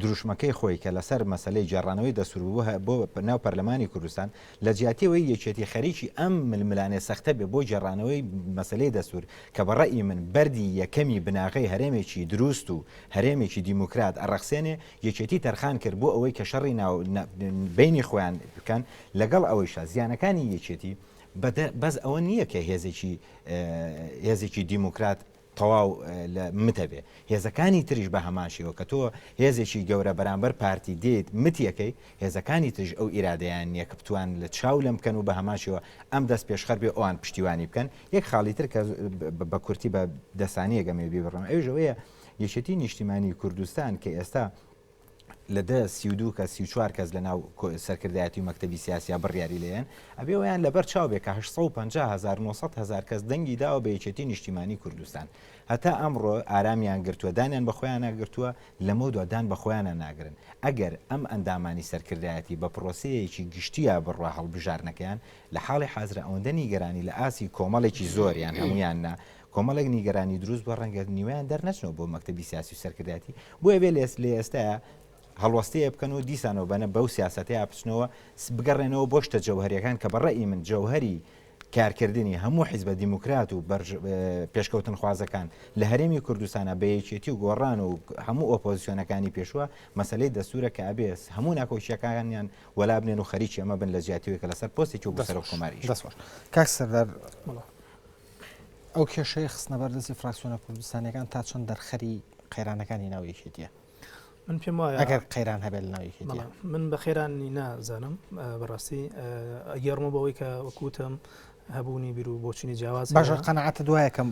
دروشمەکەی خۆی کە لەسەر مەسەلەی گێڕانەوەی دەستور بوو بۆ ناو پەرلەمانی کوردستان، لەجیاتی ئەوەی یەکێتی خەریکی ئەم ململانێ سەختە بێ بۆ گێڕانەوەی مەسەلەی دەستور کە بە ڕەئی من بەردی یەکەمی بناغەی هەرێمێکی دروست و هەرێمێکی دیموکرات ئەڕەخسێنێ، یەکێتی تەرخان کرد بۆ ئەوەی کە شەڕی ناو بەینی خۆیان بکەن، لەگەڵ ئەوەیشا زیانەکانی یەکێتی بەس ئەوە نییە کە هێزێکی هێزێکی دیموکرات تەواو لە متە بێ هێزەکانی تریش بە هەمان شێوە کە تۆ هێزێکی گەورە بەرامبەر پارتی دێیت متی ئەکەی هێزەکانی تریش ئەو ئیرادەیان نیە کە بتوان لە چاو لەم بکەن و بە هەمان شێوە ئەم دەست پێشخەر بێ ئەوان پشتیوانی بکەن یەک خاڵی تر کە بە کورتی بە دە سانیەک ئەمەوێ بیبڕم ئەویش ئەوەیە یەکێتی نیشتیمانی کوردستان کە ئێستا لە دە سی و دوو کەس سی و چوار کەس لە ناو سەرکردایەتی و مەکتەبی سیاسیا بڕیاری لێن ئەبێ ویان لەبەر چاو بێ کە 1950 هزار کەس دەنگی داوە بە یەکێتی نیشتیمانی کوردستان هەتا ئەمڕۆ ئارامیان گرتووە دانیان بە خۆیان ناگرتووە لەمە دوادان بە خۆیانە ناگرن ئەگەر ئەم ئەندامانی سەرکردایەتی بە پرۆسەیەکی گشتیە بڕە هەڵبژارنەکەیان لە حاڵی حازرە ئەوەندە نیگەرانی لە ئاسی کۆمەڵێکی زۆریان هەمویان نا کۆمەڵێک نیگەرانی دروست بووە ڕەنگە نیوەیان دەرنەچنەوە بۆ مەکتەبی سیاسی و سەرکردایەتی بۆیە بێ لێس لێ ئێستاە هەڵوەستەیە بکەن و دیسانەوە بەنە بەو سیاستەیە بچنەوە بگەڕێنەوە بۆ شتە جەوهریەکان کە بەڕێی من جەوهری کارکردنی هەموو حیزبە دیموکرات و پێشکەوتن خوازەکان لە هەرێمی کوردستانە بە یەکێتی و گۆڕان و هەموو ئۆپۆزیسیۆنەکانی پێشوە مەسلەی دەسوورە کە ئەبێس هەموو ناکۆکیەکانیان وەلا بنێن و خەریکی ئەمە بن لە جیاتیوێکە لەسەر پۆستێکی و بەسەر کۆماری دەسۆش کاک سەردار ئەو کێشەیە خستنە بەردەستی فراکسیۆنە کوردستانیەکان تا چەند دەرخەری قەیرانەکانی ناو یەکێتیە من پێم وایە ئەگەر قەیران هەبێت ناو یەکێتیە من بە خێرانی نازانم بەڕاستی ئەگەڕمە بەوەی کە وەکوتم هەبوونی بیر و بۆچینی جیاواز باشە قەنەعاتە دوایەکەم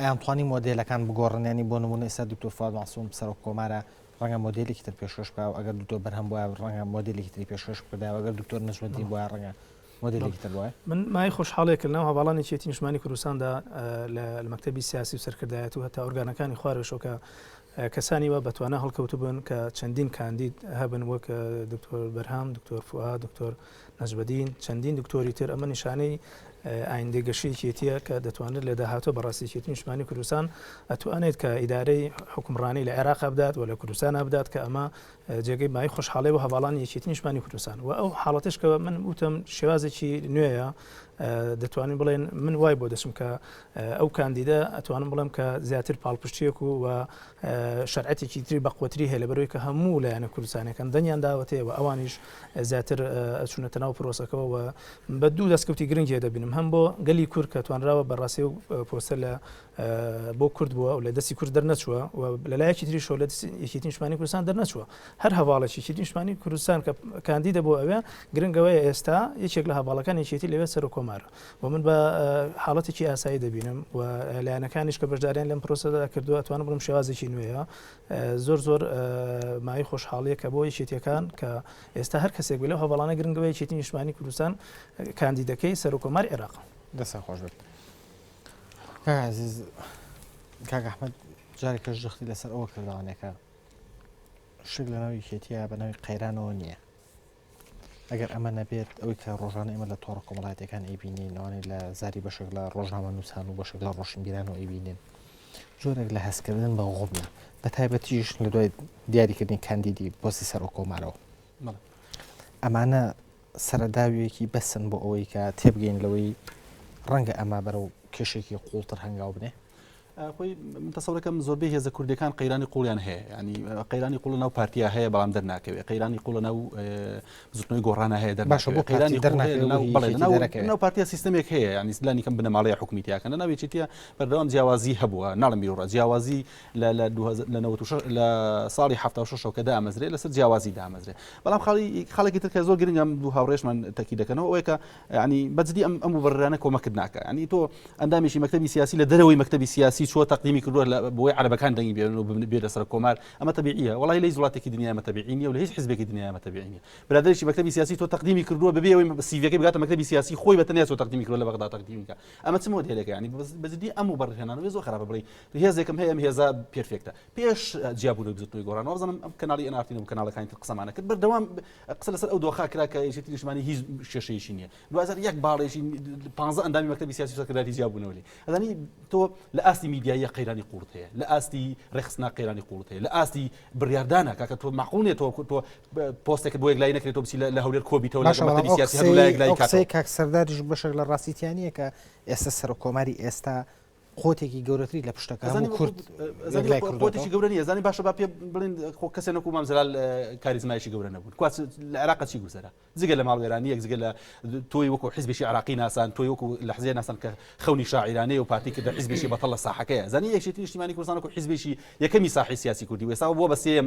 ئەیانتوانی مۆدلەکان بگۆڕنیانی بۆ نمونە ئێستا دکتۆر فواد ماسوم سەرۆک کۆمارە ڕەنگە مۆدلێکی تر پێشکەش بکە و ئەگەر دکتۆر بەرهەم بۆە ڕەنگە مۆدلێکی تری پێشکەش بکەدا ئەگەر دکتۆر نەژمەدی بۆە ڕەنگە مۆدێلێکی تر وایە؟ من مایەی خۆشحاڵێک لەناو هەڤاڵانی یەکێتی نیشتمانی کوردستاندا لە مەکتەبی سیاسی و سەرکردایەتی و هەتا ئۆرگانەکانی خوارەوەشەوە کە کەسانی وا بە توانا هەڵکەوتبوون کە چەندین کاندید هەبن وەک دکتۆر بەرهام دکتۆر فوئاد دکتۆر نەجمەدین چەندین دکتۆری تر ئەمە نیشانەی ئایندەی گەشی یەکێتیە کە دەتوانێت لە داهاتوو بەڕاستی یەکێتی نیشتمانی کوردستان ئەتوانێت کە ئیدارەی حکومڕانی لە عێراق بدات و لە کوردستان بدات کە ئەمە جێگەی بای خۆشحاڵی بۆ هەڤاڵانی یەکێتی نیشتمانی کوردستان و ئەو حاڵەتش کە من وتم شێوازێکی نوێیە دەتوانین بڵێن من وای بۆ دەچم کە ئەو کاندیدە ئەتوانم بڵێم کە زیاتر پاڵپشتیەک و و شەرعەتێکی تری بەقوتری هەیە لە بەرەوەی کە هەموو لایەنە کوردستانەکەن دەنگیان داوەتەیە و ئەوانیش زیاتر ئەچونەتە ناو پرۆسەکەەوە و بە دوو دەستکەوتی گرنگی دەبینم هەم بۆ گەلی کورد کە توانراوە بەڕاستی و پۆستە لە بۆ کورد بووە و لە دەستی کورد دەرنەچووە و لەلایەکی تریشۆ لە یەکێتی نیشتمانی کوردستان دەرنەچووە هەر هەواڵێکی یەکێتی نیشتمانی کوردستان کە کاندی دەبوو ئەوێ گرنگەوەی ئێستا یەکێک لە هەواڵەکان یەکێتی لەوێ سەر و کۆمار و من بە حاڵەتێکی ئاسایی دەبینم و لایەنەکانیش کە بەشداریان لەم پرۆسەدا کردووە توانم بڵم شێوازێکی نوێیە زۆر زۆر مای خۆشحاڵیە کە بۆ یەکێتیەکان کە ئێستا هەر کەسێک بێ لەو هەواڵانە گرنگەوەی یەکێتی نیشتمانی کوردستان کاندیدەکەی سەر و کۆمار عێراق دەسە خۆش بێت. کاک عەزیز کاک ئەحمەد جارێکەش جەختی لەسەر ئەوە کردوانێکە شک لە ناوی کێتیە بە ناوی قەیرانەوە نییە ئەگەر ئەمە نەبێت ئەوی کە ڕۆژانە ئێمە لە تۆڕ کۆمەڵاتەکان ئەیبینین ئەوانەی لە زاری بەشێک لە ڕۆژنامە نووسان و بەشێک لە ڕۆشنبیران و ئەیبینین جۆرێک لە هەستکردن بە غوبنە بە تایبەتیش لە دوای دیاریکردنی کاندیدی پۆستی سەر و کۆمارەوە ئەمانە سەرەداویەکی بەسن بۆ ئەوەی کە تێبگەین لەوەی ڕەنگە ئەمە بەرەو کێشێکی قوڵتر هەنگاو بنێ خۆی من تەسەورەکەم زۆربەی هێزە کوردەکان قەیرانی قوڵیان هەیە ینی قەیرانی قوڵ ناو پارتیا هەیە بەڵام دەرناکەوێت قەیرانی قوڵە ناو زوتنەوەی گۆڕانە هەیە دەر باشە بۆ قەیرانی دەرناو پارتیا سیستمێک هەیە ینی سلانی کەم بنەماڵەیە حکومیتیاکەن ناوێتیە بەردەوام جیاوازی هەبووە ناڵم بیرڕە جیاوازی لە لە دوو هەزار لە نەوەد و شەش لە ساڵی حەفتا و شەشەوە کە دامەزرێ لەسەر جیاوازی دامەزرێ بەڵام خاڵی خاڵێکی تر کە زۆر گرنگم دوو هاوڕێشمان تەکی دەکەنەوە ئەوەیە کە یعنی بەجدی ئەم ئەم وبڕرانە کۆمەکت ناکە ینی تۆ ئەندامێکی مەکتتەبی سیاسی لە دەرەوەی مەکتتەبی سیاسی چوە تەقدیمی کردووە لە بۆی عربەکان دەنگی بێن و بێ لەسەر کۆمار ئەمە تەبیعیە وڵی لەی وڵاتێکی دنیا مەتەبیعی نیە و لە هیچ حزبێکی دنیا مەتەبیعی نیە برادێکی مەکتتەبی سیاسی تۆ تەقدیمی کردووە بەبێ ئەوی سیڤەکەی بگاتە مەکتتەبی سیاسی خۆی بەتەنیا تۆ تەقدیمی کردووە لە بەغدا تەقدیمیکە ئەمە چ مۆدلەکە ینی بەجدی ئەم وبڕهێنانەوە زۆر خراپە بڵی هێزێکم هەیە ئەم هێزە پێرفێکتە پێش جیابوونەوەی بزوتنەوەی گۆڕان وازنم ئەم کەناڵی ئەنارتین و کەناڵەکانی تر قسەمانە کرد بەردەوام قسە لەسەر ئەو دۆخا کرا کە یەکێتی نیشتمانی هیچ کێشەیەکی نییە دوازار یەک باڵێکی پ ئەندامی مەکتەبی سیاسی سەکرداتی جیابوونەوەی ئەدانی تۆ لە ئاستی میدیاییە قەیرانی قوڵت هەیە لە ئاستی ڕێخستنا قەیرانی قوڵت هەیە لە ئاستی بڕاردانە کاکە تۆ مەقونێت تۆ کورتۆ پۆستێک بۆ یەکلای نەکرێت تۆ بچی لە هەولێر کۆبیتەوە لە مەکتەبی سیاسی هەولای کاک سەرداریش بەشێک لە ڕاستیتیانە کە ئێستا سەر کۆماری ئێستا قوتێکی گەورەتری لە پشتەکە هەموو کورد قوتێکی گەورە نیە زانانی باشە با پێ بڵین خۆ کەسێ نەکو مام زلال کاریزمایشی گەورە نەبوون کواس لە عراقە چی گوزەرە جگە لە ماڵوێرانی یەک جگە لە تۆی وەکو حزبێکی عراقی ناسان تۆی وەکو لە حزێ ناسان کە خەونی شاعرانەیە و پارتی کردە حزبێکی بەتەڵ لە ساحەکەیە زانی یەکێتی نیشتیمانی کوردستان وەکو حزبێکی یەکەمی ساحی سیاسی کوردی وێساوە بۆ بەسێم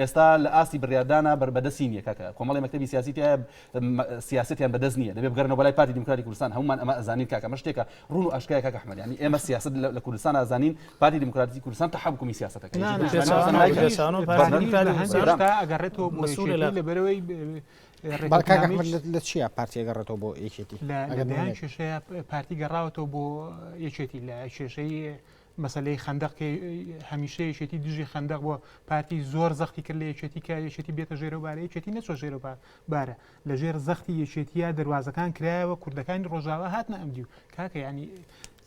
ئێستا لە ئاستی بریاردانا بە دەستی نیە کاکە کۆمەڵی مەکتەبی سیاسی تیایە سیاسەتیان بە دەست نیە دەبێ بگەرنەوە بەلای پارتی دیموکراتی کوردستان هەمومان ئەمە ئەزانین کاکە ئەمە شتێکە ڕون و ئاشکرایە کاکە احمد یانی ئێمە سیاسەت لە کوردستان ئەزانین پارتی دیموکراتی کوردستان تەحەکومی سیاسەتەکە نا نا هێشتا ئەگەڕێتەوە بۆ یەکێتی لەبەرەوەی لە چیا پارتی ئەگەڕێتەوە بۆ یەکێتی لە دەیان کێشەیە پارتی گەڕاوەتەوە بۆ یەکێتی لە کێشەی مەسەلەی خەندەق کە هەمیشە یەکێتی دژی خەندەق بۆ پارتی زۆر زەختی کرد لە یەکێتی کە یەکێتی بێتە ژێرە بارە یەکێتی نەچۆ ژێرە بارە لە ژێر زەختی یەکێتیە دەواازەکان کرایەوە کوردەکانی ڕۆژاوا هاتنە ئەمدی و کاکە ینی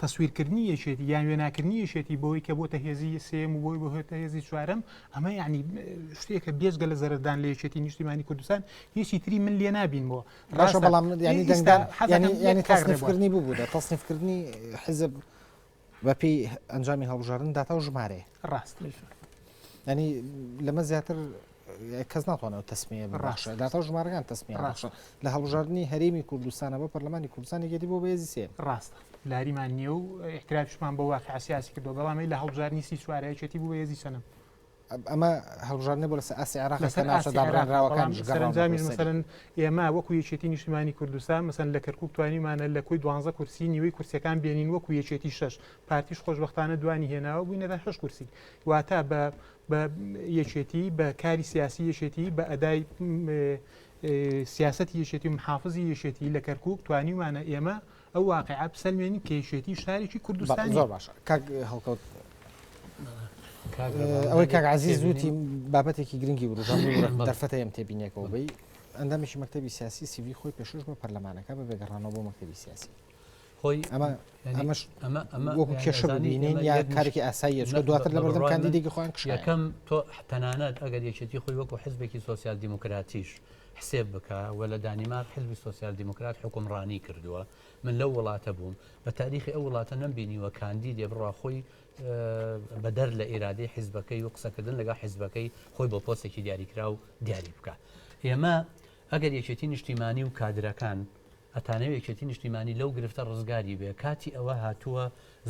تەسویرکردنی یەکێتی یان وێناکردنی یەکێتی بۆی کە بۆتە هێزی سێم و بۆی بهێتە هێزی چوارم ئەمە یعنی شتێکە بێزگە لە زەردان لە یەکێتی نیشتیمانی کوردستان هیچی تری من لێ نبینەوە ڕاشە بەڵام ینی دەنگدان حەزانی ینی کارڕێبوونی ببوو دە تەصنیفکردنی حزب بەپێی ئەنجامی هەڵبژاردن داتا و ژمارەیە ڕاست ینی لەمە زیاتر کەس ناتوانێت تەسمیە بڕاش داتا و ژمارەکان تەسمی ڕاش لە هەڵبژاردننی هەرێمی کوردستانە بە پەرلەمانی کوردستانی گەدی بۆ بەێزی سێ ڕاستە لاریمان نییە و احتراپشمان بۆ واقع سیاسی کردو بەڵامی لە هەڵبژارنی سی سوارەیەکێتی بوو بەێزی سەنم ئەمە هەڵبژاردنە بۆ لەسەر ئاسی عێراق لەسەر ئاسی دابڕێنراوەکان سەرنجامیش مەسەرن ئێمە وەکو یەکێتی نیشتمانی کوردستان مەسەن لە کەرکک توانیمانە لە کۆی دوانزە کورسی نیوەی کورسەکان بێنین وەکو یەکێتی شش پارتیش خۆشببختانە دوانی هێناوە بووینە لە هەش کورسی واتە بە بە یەکێتی بە کاری سیاسی یەکێتی بە ئەدای سیاست یەکێتی و محافزی یەکێتی لە کەرکک توانیمانە ئێمە ئەو واقعە بسەلمێنین کە یەکێتی شارێکی کوردستان زۆر باشە کاک هەڵکەوت ئەوەی کاک عزیز زووتی بابەتێکی گرنگی وروژان دەرفەتە ئەم تێبینێکەوە بی ئەندامێکی مەکتتەبی سیاسی سیوی خۆی پێشش بە پەرلەمانەکە بە بێگەڕانەوە بۆ مەکتتەبی سیاسی خۆی ئەمە ئەمەش ئەمە ئەمە وەکو کێشە ببینین یا کارێکی ئاساییە چۆ دواتر لە بەردەم کاندیدێکی خۆیان کشەکەم تۆ تەنانەت ئەگەر یەکێتی خۆی وەکو حزبێکی سوسیال دیموکراتیش حسێب بکە وە لە دانیمارک حزبی سۆسیال دیموکرات حوکمڕانی کردوە من لەو وڵاتە بووم بە تاریخی ئەو وڵاتە نەم بینیوە کاندیدێ بڕا خۆی بەدەر لە ئیرادەی حزبەکەی و قسەکردن لەگە حزبەکەی خۆی بۆ پۆستێکی دیاریکراو دیاری بکە ئێمە ئەگەر یەکێتی نیشتیمانی و کادرەکان ئەتانەوێ یەکێتی نیشتیمانی لەو گرفتە ڕزگاری بێ کاتی ئەوە هاتووە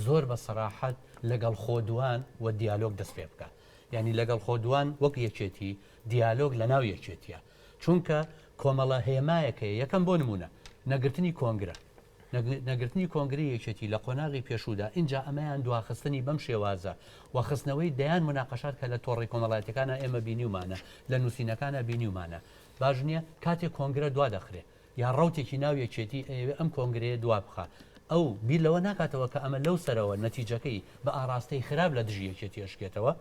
زۆر بە سەراحەت لەگەڵ خۆدوان و دیالۆگ دەست پێ بکە یعنی لەگەڵ خۆدوان وەک یەکێتی دیالۆگ لە ناو یەکێتیە چونکە کۆمەڵە هێمایەک هەیە یەکەم بۆ نمونە نەگرتنی کۆنگرە نەگرتنی کۆنگری یەکێتی لە قۆناغی پێشودا ئینجا ئەمەیان دواخستنی بەم شێوازە وەخستنەوەی دەیان مناقەشات کە لە تۆڕی کۆمەڵاتەکانە ئێمە بینیومانە لە نووسینەکانە بینیومانە باش نییە کاتێک کۆنگرە دوا دەخرێ یا ڕوتێکی ناو یەکێتی ئەوێ ئەم کۆنگرەیە دوا بخە ئەو بیر لەوە ناکاتەوە کە ئەمە لەو سەرەوە نەتیجەکەی بە ئاراستەی خراپ لە دژی یەکێتی ئەشکێتەوە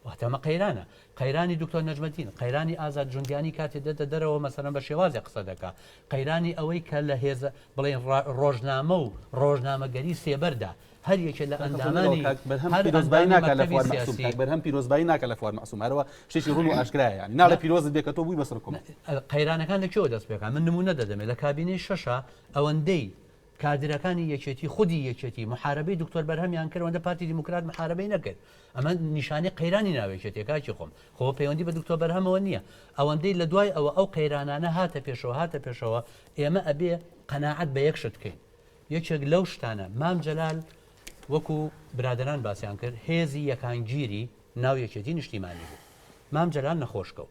واتە ئەمە قەیرانە، قەیرانی دکتۆر نەجمەدین، قەیرانی ئازاد جوندیانی کاتێ دێتە دەرەوە مەسەلەن بە شێوازێ قسە دەکا، قەیرانی ئەوەی کە لە هێزە بڵێین ڕا ڕۆژنامە و ڕۆژنامەگەری سێبەردا هەر یەکێ لە کاکە فۆنەرەوە ئەندامانی کاک بەرهەم هەر پیرۆزبایی ئەندامی ناکا لە مەکتەبی فواد مەعسوم سیاسی کاک بەرهەم پیرۆزبایی ناکا لە فواد مەعسوم هەرەوە شتێکی ڕون و ئاشکرایە یانی ناڵێ نا پیرۆزت بێ کە تۆ بوی بە سڕکم. نا قەیرانەکان لە کوێوە دەست پێکا من نمونە دەدەمێ لە کابینەی شەشا ئەوەندەی کادرەکانی یەکێتی خودی یەکێتی محارەبەی دکتۆر بەرهەمیان کرد ئەوەندە پارتی دیموکرات محارەبەی نەکرد ئەمە نیشانەی قەیرانی ناو یەکێتیە کاکی خۆم خۆ پەیوەندی بە دکتۆر بەرهەمەوە نییە ئەوەندەی لە دوای ئەوە ئەو قەیرانانە هاتە پێشەوە هاتە پێشەوە ئێمە ئەبێ قەناعەت بە یەک شت بکەین یەکێک لەو شتانە مام جەلال وەکو برادران باسیان کرد هێزی یەکانگیری ناو یەکێتی نیشتیمانی بوو مام جەلال نەخۆشکە و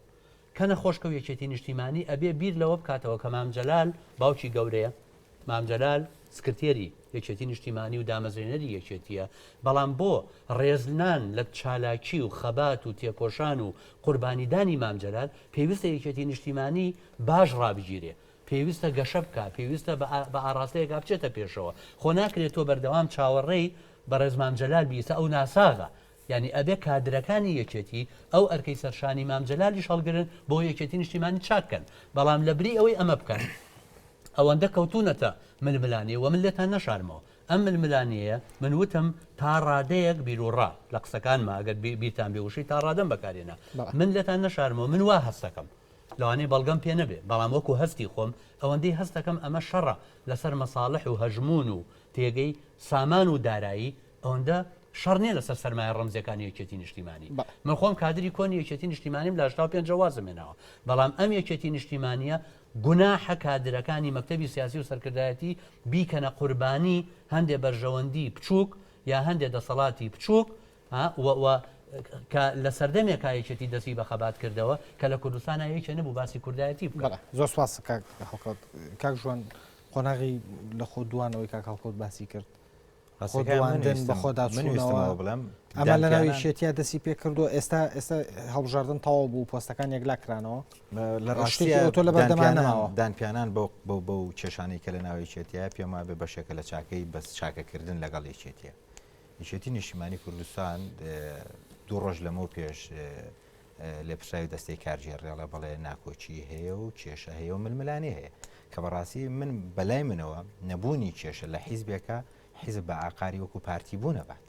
کە نەخۆشکەو یەکێتی نیشتیمانی ئەبێ بیر لەوە بکاتەوە کە مام جەلال باوکی گەورەیە، مام جەلال سکرتێری یەکێتی نیشتیمانی و دامەزرێنەری یەکێتیە، بەڵام بۆ ڕێزلنان لە چالاکی و خەبات و تێکۆشان و قوربانیدانی مام جەلال پێویستە یەکێتی نیشتیمانی باش ڕابگیرێ، پێویستە گەشە بکا، پێویستە بە ئاڕاستەیەکا بچێتە پێشەوە، خۆ ناکرێ تۆ بەردەوام چاوەڕێی بەڕێز مام جەلال بی، ئیستا ئەو ناساغە، یانی ئەبێ کادرەکانی یەکێتی ئەو ئەرکەی سەر شانی مام جەلالیش هەڵگرن بۆ یەکێتی نیشتیمانی چاک کەن بەڵام لە بری ئەوەی ئەمە بکەن ئەوەندە کەوتونەتە ململانێ وە من لێتان نەشارمەوە ئەم ململانێیە من وتم تا ڕادەیەک بیروڕا لە قسەکانما ئەگەر بیرتان بێ وشەی تا ڕادەم بەکارێنا من لێتان نەشارمەوە من وا هەستەکەم لەوانەیە بەڵگەم پێ نەبێ بەڵام وەکو هەستی خۆم ئەوەندەی هەستەکەم ئەمە شەڕە لەسەر مەساڵح و هەژمون و تێگەی سامان و دارایی ئەوەندە شەڕ نیە لەسەر سەرمایە ڕەمزیەکانی یەکێتی نیشتیمانی من خۆم کادری کۆنی یەکێتی نیشتیمانیم لە شتا پێنج وازم هێناوە بەڵام ئەم یەکێتی نیشتیمانیە گوناحە کادرەکانی مەکتتەبی سیاسی و سەرکردایەتی بیکەنە قوربانی هەندێ بەرژەوەندی بچووک یا هەندێ دەسەڵاتی بچووک کە لە سەردەمێک کایەکێتی دەستی بە خەبات کردەوە کە لە کوردستان یەکێ نەبوو باسی کوردایەتی بکە زۆر سواس کاک ژوان قۆناغی لە خۆ دوانەوەی کاک هەڵکەوت باسی کرد خۆدواندن، بەخۆداچوونەوە، ئەمە لەناو یەکێتییا دەستی پێ کردووە، ئێستا ئێستا هەڵبژاردن تەواو بوو پۆستەکان یەکلا کرانەوە لە ڕاستیە تۆ لە بەردەمانەوە دانپیانان بە و کێشانەی کە لە ناوی چێتیە پێم وابێ بەشێکە لە چاکەی بەس چاکەکردن لەگەڵ یەکێتیە یەکێتی نیشتیمانی کوردستان دوو ڕۆژ لەمەو پێش لێپرسراوی دەستەی کارگێڕ رێڵە بەڵێ ناکۆکی هەیە و کێشە هەیە و ململانێ هەیە کە بەڕاستی من بەلای منەوە نەبوونی کێشە لە حیزبێکە حیزب بە ئاقاری وەکو پارتی بوو نەبات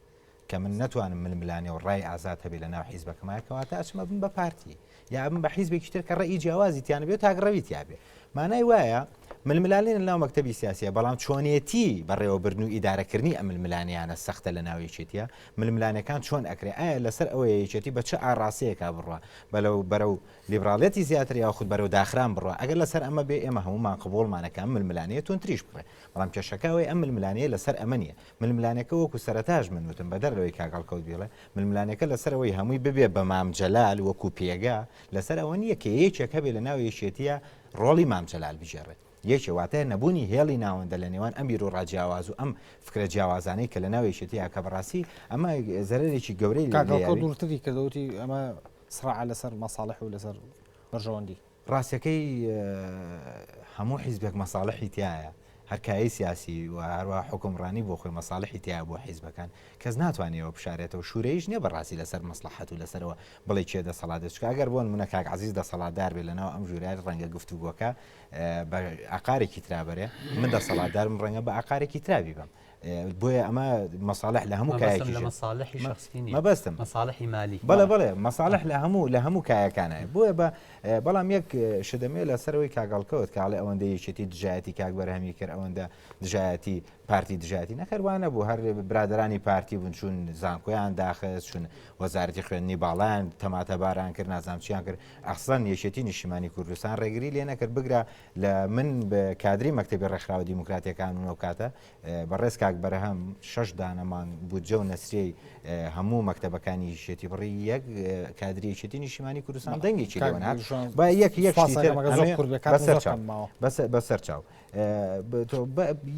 کە من نتوانم ململانێ و ڕای ئازاد هەبێ لە ناو حیزبەکەمایکەواتە ئەچمە بن بە پارتی یا بن بە حیزبێکی تر کە ڕێی جیاوازی تیانە بێت تاگڕەوی تیاابێ مانای وایە ململانێ لە ناو مەکتەبی سیاسیە بەڵام چۆنێتی بەڕێوەبردن و ئیدارەکردنی ئەم ململانیانە سەختە لە ناو یەکێتیە ململانەکان چۆن ئەکرێ ئایا لەسەر ئەوە یەکێتی بە چ ئاڕاستەیەکا بڕە بەلەو بەرە و لیبراڵەتی زیاتر یا خود بەرەو داخران بڕە ئەگەر لەسەر ئەمە بێ ئێمە هەمومان قبولمانەکان ململانەیە تون تریش بڕێ بەڵام کێشەکەوەی ئەم ململانەیە لەسەر ئەمە نیە ململانەکە وەکو سەرتاش من وتم بەدەر لەوەی کاگەڵکەوت بیڵێ ململانەکە لەسەرەوەی هەمووی ببێ بە مام جەلال وەکو پێگە لەسەر ئەوە نییە کە یەکێک هەبێ لە ناو یەکێتییە ڕۆڵی مام جەلال بگێڕێت. یەکێ واتە نەبوونی هێڵی ناوەندە لە نێوان ئەم بیروڕا جیاواز و ئەم فکرە جیاوازانەی کە لە ناو یەکێتی هەیە کە بەڕاستی ئەمە زەرەرێکی گەورەی لێ کاکە ئەوکەوت دوورتری کردەوە وتی ئەمە سڕاعە لەسەر مەساڵح و لەسەر بەرژەوەندی. ڕاستەکەی هەموو حیزبێک مەساڵحی تایە. هەر کایەی سیاسی و هەروەها حوکمڕانی بۆ خۆی مەساڵحی تیایە بۆ حیزبەکان، کەس ناتوانێ ئەوە بشارێتەوە، شورەییش نیە بەڕاستی لەسەر مەسڵەحەت و لەسەرەوە بڵێ کێ دەسەڵاتدار، چونکە ئەگەر بۆ نمونە کاک عەزیز دەسەڵاتدار بێ لەناو ئەم ژورەیا ڕەنگە گفتوگۆکە بە ئاقارێکی ترا بەرێ، من دەسەڵاتداربم ڕەنگە بە ئاقارێکی ترا بیبەم. بۆیە ئەمە مەساالح لە هەموو کایەکی لە مەساالحی شخصی مەبەستم مەساالحی مالی بەڵێ بڵێ مەساالح لە هەموو لە هەموو کایەکانە بۆیە بە بەڵام یەک شدەمێ لە سەرەوەی کاگەڵکەوت کاڵێ ئەوەندە یەکێتی دژایەتی کاک بەرهەمی کرد ئەوەندە دژایەتی پارتی دژایەتی نەخەروانە بوو هەر برادرانی پارتی بوون چون زانکۆیان داخست چون وەزارەتی خوێندنی باڵیان تەماتەباران کرد نازانچیان کرد ئەخسان یەکێتی نیشیمانی کوردستان ڕێگری لێ نەکرد بگرە لە من کادری مەکتەبی ڕێکخراوە دیموکراتیەکان و ئەوکاتە بەڕێز کاک بەرەهەم شش دانەمان بودجە و نەسرەی هەموو مەکتتەبەکانی شێتی بڕی یەک کادریەتی نیشیمانی کوردستان دەنگێکی بەسەر چاو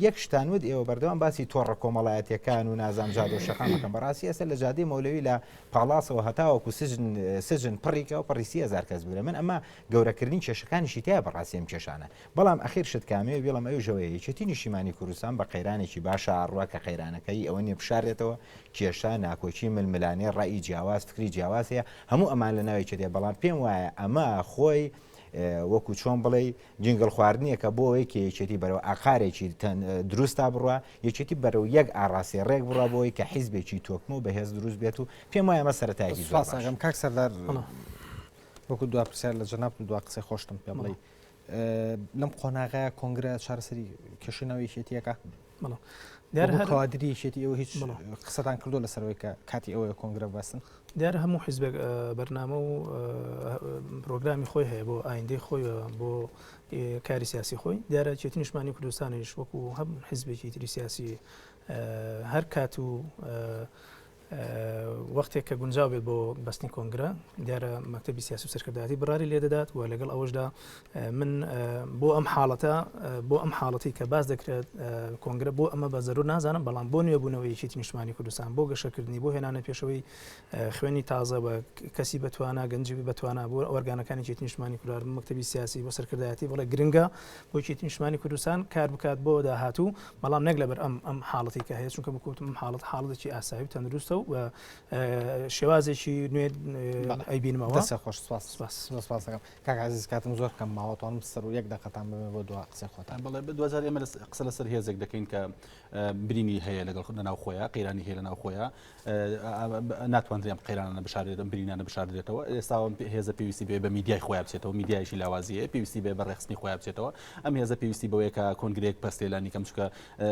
یەک شتان ود ئێوە بەردەوام باسی تۆڕە کۆمەڵایەتەکان و نازام جادە و شەقامەکەم بەڕاستی ئەسەر لە جادی مەولەوی لە پاڵاسەوە هەتاوەکو سجن سجن پڕیکە و پڕیسی هزار کەس بگرە من ئەمە گەورەکردنی کێشەکانیشی تیایە بەڕاستی ئەم کێشانە بەڵام ئەخیر شت کامەیە بیڵێم ئەویش ئەوەیە یەکێتی نیشتیمانی کوردستان بە قەیرانێکی باشە ئاڕوا کە قەیرانەکە هی ئەوە نیە بشارێتەوە کێشە ناکۆکی ململانێ ڕەئی جیاواز فکری جیاواز هەیە هەموو ئەمان لە ناو یەکێتیە بەڵام پێم وایە ئەمە خۆی وەکو چۆن بڵێی جنگل خواردنیەکە بۆ ئەوەی کە یەکێتی بەرەوە ئاقارێکی دروستا بڕە یەکێتی بەرەو یەک ئاڕاسی ڕێک بڕە بۆی کە حیزبێکی تۆکمە و بەهێز دروست بێت و پێم وایە مە سەرەتایکی زۆر کاک سەردار وەکو دوا پرسیار لە جەنابت و دوا قسەی خۆشتم پێ بڵێ لەم قۆناغەیە کۆنگرە چارەسەری کێشەی ناو یەکێتیەکە بەڵام دیار هەر کادری یەکێتی ئەو هیچ قسەتان کردو لەسەرەوەی کە کاتی ئەوەیە کۆنگرە بەسن دیار هەموو حیزبێک بەرنامە و پرۆگرامی خۆی هەیە بۆ ئایندەی خۆی بۆ کاری سیاسی خۆی دیارە چێتی نیشمانی کوردستانیش وەکو هەم حیزبێکی تری سیاسی هەر کات و وەختێک کە گونجاو بێت بۆ بەستنی کۆنگرە دیارە مەکتتەبی سیاسی و سەرکردایەتی بڕاری لێ دەدات و لەگەڵ ئەوەشدا من بۆ ئەم حاڵەتە بۆ ئەم حاڵەتی کە باز دەکرێت کۆنگرە بۆ ئەمە بە زەرو نازانم بەڵام بۆ نوێبوونەوەیکی نیشتمانی کوردستان بۆ گەشەکردنی بۆ هێنانە پێشەوەی خوێنی تازە بە کەسی بەتوانە گەنجی بەتوانە بۆ ئۆرگانەکانی چێت نیشتمانی کورار مەکتتەبی سیاسی بۆ سەرکردایەتی بڵێ گرنگە وەکیتی نیشتمانی کوردستان کار بکات بۆ داهاتوو بەڵام نەک لەبەر ئەم ئەم حاڵەتی کە هەیە چونکە بکوتم حاڵت حاڵەتێکی ئاسایی و تەندروستە و شێوازێکی نوێ ئەیبینمەوە خۆش سپاسەکەم کاکزیز کاتم زۆر کەم ماوەتوانم سەر و یەک دەقەتان بێ بۆ دو قسە خۆتان بڵێ بە دوزار ئێمە قسە لەسەر هێزێک دەکەین کە برینی هەیە لەگەڵ خودە ناو خۆیان قەیرانی هەیە لە ناو خۆیان ناتواندرێ ئەم قەیرانانە بشاردرێت ئەم برینانە بشاردرێتەوە ئێستا هێزە پێویستی بێ بە میدیای خۆیان بچێتەوە میدیایشی لاوازیە پێویستی بێ بە ڕێخستنی خۆیان بچێتەوە ئەم هێزە پێویستی بەوەیە کە کۆنگرێک پرسێلانی کەم چکە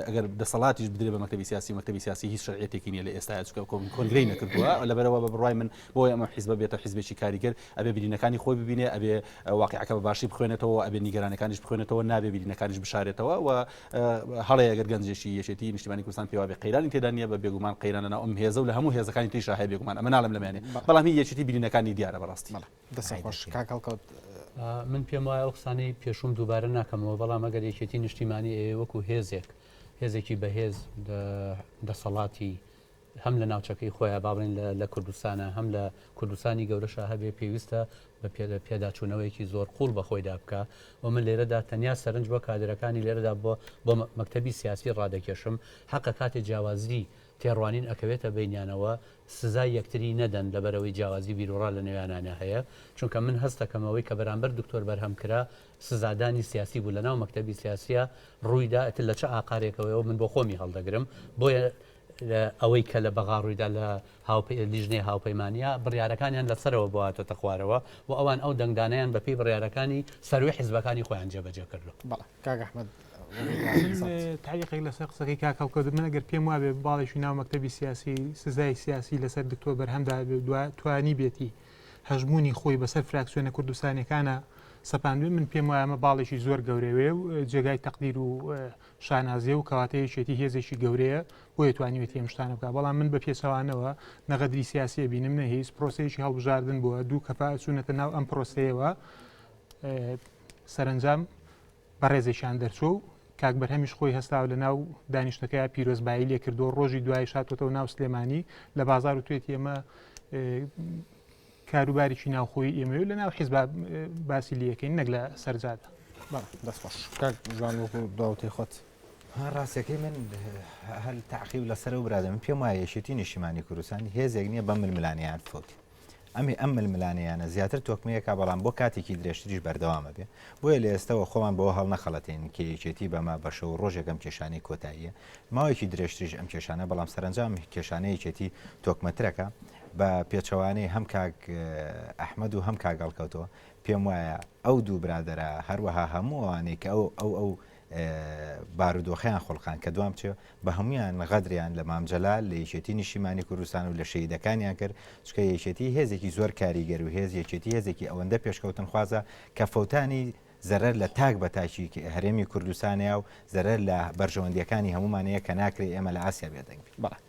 ئەگەر دەسەڵاتیش بدرێ بە مەکتتەبی سیاسی مەکتتەبی سیاسی هیچ شرعەتێکی نیە لە ئێستا چکە کۆنگری نەکردووە لەبەرەوە بە بڕای من بۆی ئەمە حیزب بێتە حیزبێکی کاریگەر ئەبێ برینەکانی خۆی ببینێ ئەبێ واقعەکە بە باشی بخوێنێتەوە ئەبێ نیگەرانەکانیش بخوێنێتەوە نابێ برینەکانیش بشارێتەوە و هەڵەیە ئەگەر گەنجێکی یەکێتی نیشتیمانی کوردستان پێی وابێ قەیرانی تێدا نییە بە بێگومان قەیران لەناو ئەم هێزە و لە هەموو هێزەکانی تریشا هەیە بێگومان ئەمە ناڵێم لەمیانێ بەڵام هی یەکێتی برینەکانی دیارە بەڕاستی دەستت خۆش کاک هەڵکەوت من پێم وایە ئەو قسانەی پێشوم دووبارە ناکەمەوە بەڵام ئەگەر یەکێتی نیشتیمانی ئێوە وەکو هێزێک هێزێکی بەهێز دەسەڵاتی هەم لە ناوچەکەی خۆیان با بڵێین لە کوردستانا هەم لە کوردستانی گەورەشا هەبێ پێویستە بە پێداچوونەوەیەکی زۆر قووڵ بە خۆیدا بکا و من لێرەدا تەنیا سەرنج بۆ کادرەکانی لێرەدا بۆ بۆ مەکتەبی سیاسی ڕادەکێشم حەقە کاتێ جیاوازی تێڕوانین ئەکەوێتە بینیانەوە سزای یەکتری نەدەن لەبەرەوەی جیاوازی بیرروڕا لە نێویانانە هەیە چونکە من هەستەکەمەوەی کە بەرامبەر دکتۆر بەرهەم کرا سزادانی سیاسی بوو لەناو مەکتتەبی سیاسیە ڕوویدا ئەتر لە چ ئاقارێکەوەەوە من بۆ خۆمی هەڵدەگرم بۆیە ئەوەی کە لە بەغا ڕوویدا لە لیژنەی هاوپەیمانییە بڕیارەکانیان لە سەرەوە بۆهاتۆتە خوارەوە و ئەوان ئەو دەنگدانەیان بە پێی بڕیارەکانی سەرووی حزبەکانی خۆیان جێبەجێ کردووە. تاریقێک لەسەر قسەکەی کاک هەڵکەوت من ئەگەر پێم وابێ باڵێکی ناو مەکتتەبی سیاسی سزای سیاسی لەسەر دکتۆر بەرهەمدا توانی بێتی هەژمونی خۆی بەسەر فراکسیۆنە کوردستانەکانە سەپاندوێ من پێم وایە ئەمە باڵێکی زۆر گەورەوێ و جێگای تەقدیر و شانازیە و کەواتە یەکێتی هێزێکی گەورەیە بۆیە توانیوێتی ئەم شتانە بکە بەڵام من بە پێچەوانەوە نەغەدری سیاسیە بینم نە هیچ پرۆسەیەکی هەڵبژاردن بووە دوو کەپا چوونەتە ناو ئەم پرۆسەیەوە سەرنجام بەڕێزێکیان دەرچۆ و کاک بەرهەمیش خۆی هەستاوە لە ناو دانیشتەکەی پیرۆزبایی لێ کردو ڕۆژی دوای شاتۆتەوە ناو سلێمانی لە بازار و توێتی ئەمە کاروبارێکی ناوخۆی ئێمەوێ لە ناو حیزب باسی لەکەین نەک لە سەرجادە دەستخۆش جوان وەکو داوتی خۆت ڕاستەکەی من هەل تاقیب لەسەر و برادە من پێم وایە یەشێتی نیشیمانی کوردستان هێزێک نییە بە ململانیان فوت ئەمی ئەم ململانیانە زیاتر تۆکمەیەکە بەڵام بۆ کاتێکی درێژتریش بەردەوامە بێ بۆیە لە ئێستەوە خۆمان بۆ هەڵ نەخەڵەتین کە یەکێتی بەمە بەشە و ڕۆژێکم کێشانی کۆتاییە ماوەیەکی درێژتریش ئەم کێشانە بەڵام سەرنجام کێشانەیەکێتی تۆکمەترەکە بە پێچەوانەی هەم کاک ئەحمەد و هەم کاک هەڵکەوتەوە، پێم وایە ئەو دوو برادەرە هەروەها هەموو ئەوانەی کە ئەو ئەو ئەو بارودۆخیان خولقاند کە دوام چێ بە هەمویان غەدریان لە مام جەلال لە یەکێتی نیشتیمانی کوردستان و لە شەهیدەکانیان کرد چکە یەکێتی هێزێکی زۆر کاریگەر و هێز یەکێتی هێزێکی ئەوەندە پێشکەوتن خوازە کە فەوتانی زەرەر لە تاک بە تاکی هەرێمی کوردستانەیە و زەرەر لە بەرژەوەندیەکانی هەمومانەیە کە ناکرێت ئێمە لە ئاسیا بێدەنگ بڵێ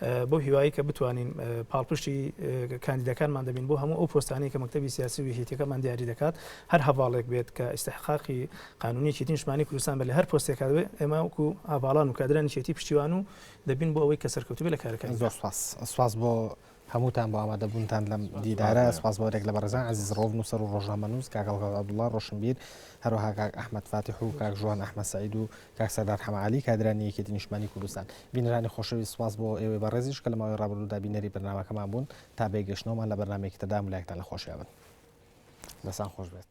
بەو هیوایەی کە بتوانین پاڵپشتی کاندیدەکانمان دەبین بۆ هەموو ئەو پۆستانەی کە مەکتەبی سیاسی و یەکێتیەکەمان دیاری دەکات هەر هەواڵێک بێت کە ئیسحقاقی قانونیەکی نیشمانی کوردستان بە لە هەر پۆستێکا دەبێت ئێمە وکو هەواڵان و کادرانی شێتی پشتیوان و دەبین بۆ ئەوەی کە سەرکەوتوبێ لە کارەکان زۆر سپاس سپاس بۆ هەمووتان بۆ ئامادەبوونتان لەم دیدارە سپاس بۆ رێک لە بەڕزان عزیز ڕۆڤ نووسەر و ڕۆژنامەنووس کاگەڵگەڵ عبدوڵڵا ڕۆشنبیر هەروەها کاک ئەحمد فاتیح و کاک ژوان ئەحمە سعید و کاک سەردار حەمە عەلی، کادرانی یەکێتی نیشتمانی کوردستان. بینەرانی خۆشەویست سوپاس بۆ ئێوەی بەڕێزیش کە لە ماوەی ڕابردوودا بینەری بەرنامەکەمان بوون، تا بێگەشتنەوەمان لە بەرنامەیەکی تردا هەموو لایەکتان لە خۆشیا بن. دەستان خۆش بێت.